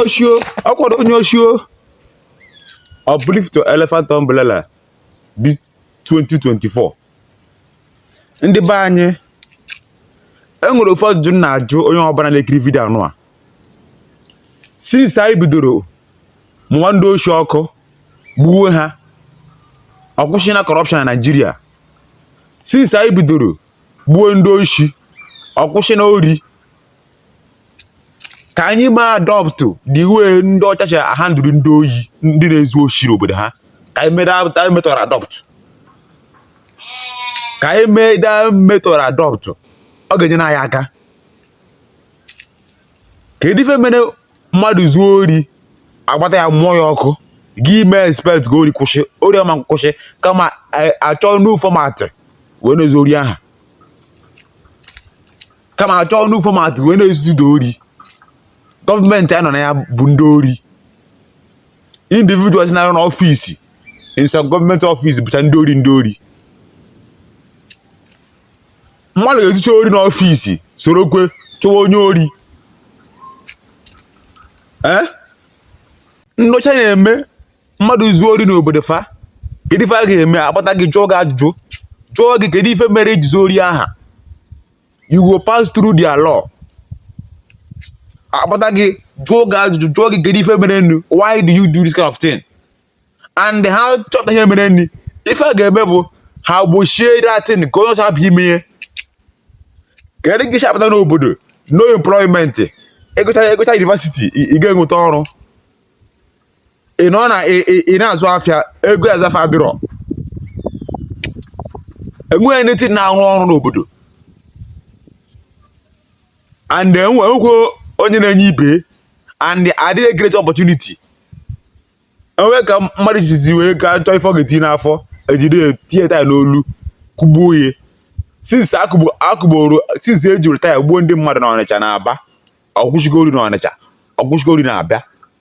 oshi o ọ kwado onye oshi o uplift elephant umbrella bi 2024 ndị be anyị enwere ofu ajụjụ m na-ajụ onye ọbụla na-ekiri vidio anụwa since anyị bidoro mụwa ndị oshi ọkụ gbuwe ha ọ kwụsịna corruption na naijiria since anyị bidoro gbuwe ndị oshi ọ kwụsịna ori ka anyị mee adopt the way ndị ọcha si handle ndị oyi ndị na-ezu oshi n'obodo ha ka anyị mee that method adopt ka anyị mee that method adopt ọ ga-enye anyị aka kedu ife mere mmadụ zuo ori agbata ya mụọ ya ọkụ gị mee expect ka ori kwụsị ori ọ ma kwụsị kama a chọọ new format wee na-ezu ori aha kama a chọọ new format wee na-ezuzi ori gọọmenti a nọ na ya bụ ndị ori individuals na-arụ n'ọfisi in some government office bụcha ndị ori ndị ori mmadụ ga-ezucha ori n'ọfisi sorokwe chụwa onye ori ee eh? ndị ọcha na-eme mmadụ zuo ori n'obodo fa kedu ife a ga-eme agbata gị jụọ gị ajụjụ jụọ gị kedu ife mere i ji zuo ori aha you go pass through their law akpọta gị jụọ gị ajụjụ jụọ gị kedu ife merenụ why do you do this kind of thing and ha chọta ihe merenụ ife a ga-eme bụ ha gbochie that thing ka onye ọzọ hapụ ime ya kedu gị si apụta n'obodo no employment ị gụchaa ị gụchaa university ị ga-enweta ọrụ ị nọ na ị na-azụ afịa ego azụ afịa adịrọ enweghị nothing na-arụ ọrụ n'obodo and enwekwo onye na-enye ibe and adịghị create opportunity enwe ka mmadụ jizi wee ka chọọ ife ọ ga-eti n'afọ e jide ya tinye taya n'olu kụgbuo ya since a kụgburu since ejiri taya gbuo ndị mmadụ na ọnịcha na aba ọ kwụsịgo ori na ọnịcha ọ kwụsịgo ori na abịa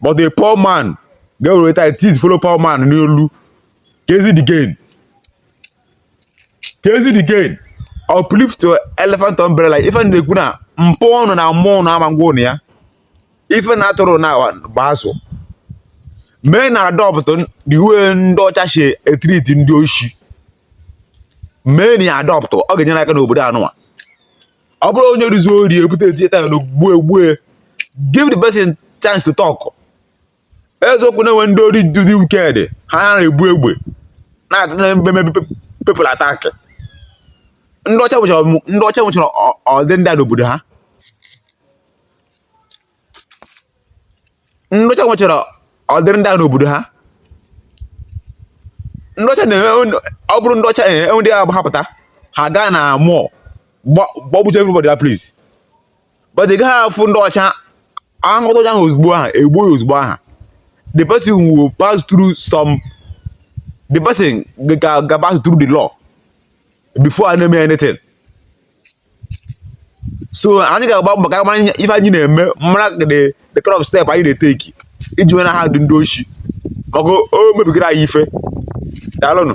but a poor man ga-ewere taya tie his fellow poor man n'olu kezi the gain kezi the gain uplift your elephant umbrella ife m na-ekwu na mpụ ọnụ na mmụọ ọnụ ama ngwa ụnụ ya ife na atụrụ na gba azụ meenụ adopt the way ndị ọcha si e treat ndị oshi meenụ ya adopt ọ ga-enyere aka n'obodo anụwa ọ bụrọ onye ori zuo ori ebute etinye taya n'olu gbue egbue give the person chance to talk eziokwu na enwe ndị ori dị wicked ha na-ebu egbe na-eme people attack ndị ọcha nwechara ọdị ndị a n'obodo ha ndị ọcha nwechara ụdịrị ndị ahụ n'obodo ha ndị ọcha na-enwe ọ bụrụ ndị ọcha enwe ndị agba ha pụta ha gaa na mall gbagbucha everybody that place but ị gaghị afụ ndị ọcha ahụta ọcha ahụ ozugbo aha egbuo ya ozugbo aha the person will pass through some the person ga-pass through the law before a na-eme anything so anyị ga-agba mbọ ka mara ife anyị na-eme mara the kind of step anyị na-eteki iji wee na-handle ndị oshi maka o mebigara anyị ife daalụnụ